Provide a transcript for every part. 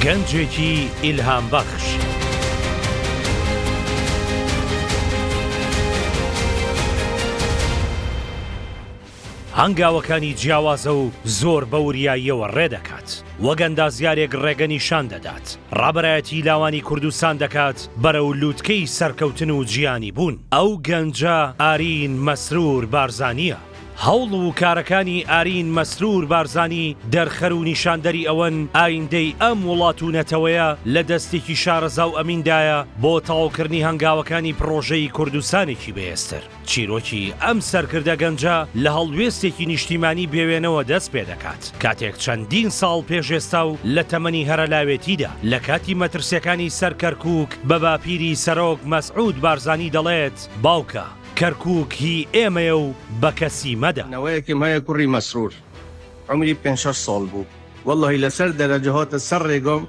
گەنجێکی ئیلهام بەخش. هەنگاوەکانی جیاوازە و زۆر بە وریاییەوە ڕێ دەکات وەک ئەندازیارێک ڕێگە نیشان دەدات ڕابەرایەتی لاوانی کوردستان دەکات بەرەو لووتکەی سەرکەوتن و جیانی بوون ئەو گەنجە ئارین مەسرور بارزانییە هەوڵ و کارەکانی ئارین مەسرور بارزانی دەرخەر و نیشاندەری ئەوەن ئایندەی ئەم وڵات و نەتەوەیە لە دەستێکی شارەزا و ئەمیندایە بۆ تەواوکردنی هەنگاوەکانی پڕۆژەی کوردستانێکی بەهێزتر. چیرۆکی ئەم سەرکردە گەنجە لە هەڵوێستێکی نیشتیمانی بێوێنەوە دەست پێدەکات، کاتێک چەندین ساڵ پێش ئێستا و لە تەمەنی هەرەلاوێتیدا لە کاتی مەترسیەکانی سەر کەرکوک بە باپیری سەرۆک مەسعود بارزانی دەڵێت باوکە، کەرکوک هی ئێمەیە و بەکەسی مەدە. نەوەیەکم هەیە کوڕی مەسرور عەمری پێنج شەش ساڵ بوو وەڵڵەهی لەسەر دەرەجە هاتە سەر ڕێگام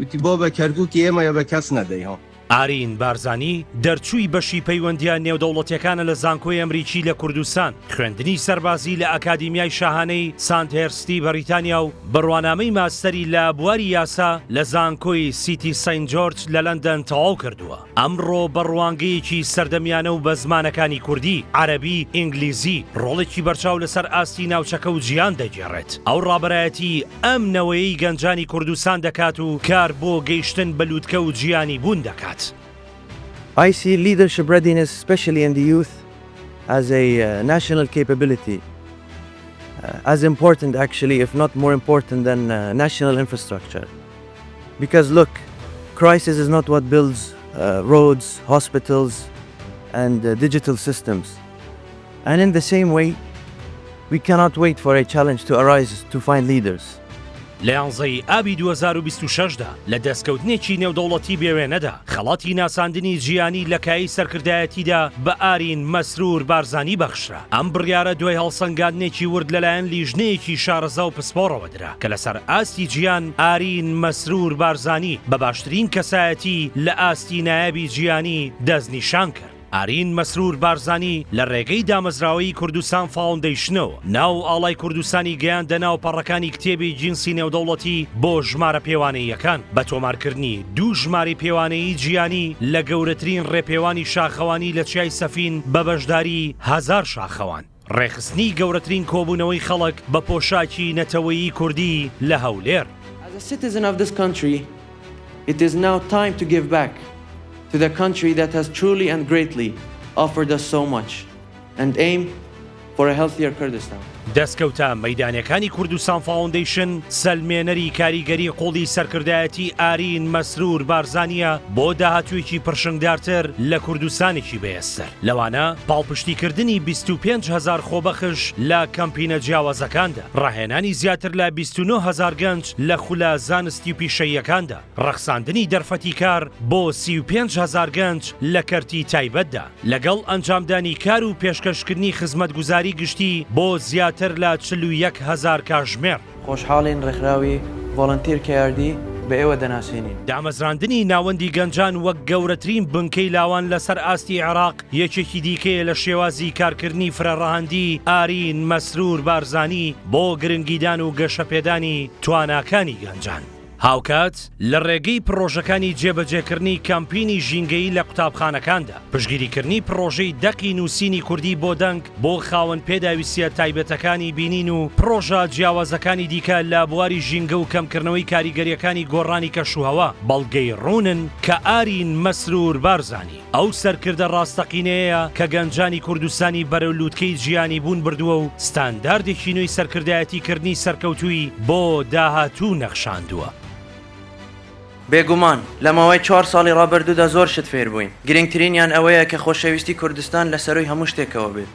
وتی بابە کەرکوکی ئێمەیە بە کەس نەدەی ها. ئارین بارزانی دەرچووی بەشی پەیوەندییە نێودەوڵەتیەکانە لە زانکۆی ئەمریکی لە کوردستان، خوێندنی سەربازی لە ئەکادیمیای شاهانەی ساندهێرستی بەریتانیا و بڕوانامەی ماستەری لە بواری یاسا لە زانکۆی سیتی سەینت جۆرج لە لەندەن تەواو کردووە. ئەمڕۆ بە ڕوانگەیەکی سەردەمیانە و بە زمانەکانی کوردی، عەرەبی، ئینگلیزی، ڕۆڵێکی بەرچاو لەسەر ئاستی ناوچەکە و جیهان دەگێڕێت. ئەو ڕابەرایەتی ئەم نەوەیەی گەنجانی کوردستان دەکات و کار بۆ گەیشتن بە لوتکە و جیهانی بوون دەکات. ئای سی لیدەرشپ ڕێدینێس سپێشلی ئین دی یوث ئەز ئەی ناشنەل کەیپەبلیتی ئەز ئیمپۆرتەنت ئەکچولی ئیف نۆت مۆر ئیمپۆرتەنت دەن ناشنەل ئینفراستراکچەر. Because look Crisis is not what builds roads, hospitals and digital systems and in the same way we cannot wait for a challenge to arise to find leaders. لە یانزەی ئابی دوو هەزار و بیست و شەش دا لە دەستکەوتنێکی نێودەوڵەتی بێوێنەدا خەڵاتی ناساندنی جیهانی لە کایەی سەرکردایەتیدا بە ئارین مەسرور بارزانی بەخشرا ئەم بڕیارە دوای هەڵسەنگاندنێکی ورد لەلایەن لیژنەیەکی شارەزا و پسپۆڕەوە درا کە لەسەر ئاستی جیان ئارین مەسرور بارزانی بە باشترین کەسایەتی لە ئاستی نایابی جیانی دەستنیشان کرد. ئارین مەسرور بارزانی لە ڕێگەی دامەزراوەی کوردستان فاوندەیشنەوە ناو و ئاڵای کوردستانی گەیاندە ناو پەڕەکانی کتێبی گینسی نێودەوڵەتی بۆ ژمارە پێوانەییەکان بە تۆمارکردنی دوو ژمارەی پێوانەیی جیانی لە گەورەترین ڕێپێوانی شاخەوانی لە چیای سەفین بە بەشداری هەزار شاخەوان. ڕێکخستنی گەورەترین کۆبوونەوەی خەڵک بە پۆشاکی نەتەوەیی کوردی لە هەولێر. As a citizen of this country it is now time to give back to the country that has truly and greatly offered us so much and aim for a healthier Kurdistan. دەستکەوتە مەیدانیەکانی کوردستان فاوندەیشن سەلمێنەری کاریگەری قوڵی سەرکردایەتی ئارین مەسرور بارزانییە بۆ داهاتوویەکی پرشنگدارتر لە کوردستانێکی بەێستر. لەوانە پاڵپشتیکردنی بیست و پێنج هەزار خۆبەخش لە کەمپینە جیاوازەکاندا، ڕاهێنانی زیاتر لە بیست و نۆ هەزار گەنج لە خولە زانستی و پیشەییەکاندا، ڕەخساندنی دەرفەتی کار بۆ سی و پێنج هەزار گەنج لە کەرتی تایبەتدا، لەگەڵ ئەنجامدانی کار و پێشکەشکردنی خزمەتگوزاری گشتی بۆ زیاتر لە چل و یەک هەزار کاژمێر. خۆشحاڵین ڕێکخراوی ڤۆڵەنتیر کەیاردی بە ئێوە دەناسێنین. دامەزراندنی ناوەندی گەنجان وەک گەورەترین بنکەی لاوان لەسەر ئاستی عێراق یەکێکی دیکەیە لە شێوازی کارکردنی فرەڕەهەندی ئارین مەسرور بارزانی بۆ گرنگیدان و گەشەپێدانی تواناکانی گەنجان. هاوکات لە ڕێگەی پڕۆژەکانی جێبەجێکردنی کەمپینی ژینگەیی لە قوتابخانەکاندا، پشتگیریکردنی پڕۆژەی دەقی نووسینی کوردی بۆ دەنگ بۆ خاوەن پێداویستییە تایبەتەکانی بینین و پڕۆژە جیاوازەکانی دیکە لە بواری ژینگە و کەمکردنەوەی کاریگەرییەکانی گۆڕانی کەشوهەوا، بەڵگەی ڕوونن کە ئارین مەسرور بارزانی. ئەو سەرکردە ڕاستەقینەیەیە کە گەنجانی کوردستانی بەرەو لووتکەی جیانیبوون بردووە و ستانداردێکی نوێی سەرکردایەتیکردنی سەرکەوتووی بۆ داهاتوو نەخشاندووە. بێگومان، لە ماوەی چوار ساڵی ڕابردوودا زۆر شت فێر بووین، گرنگترینیان ئەوەیە کە خۆشەویستی کوردستان لە سەرووی هەموو شتێکەوە بێت.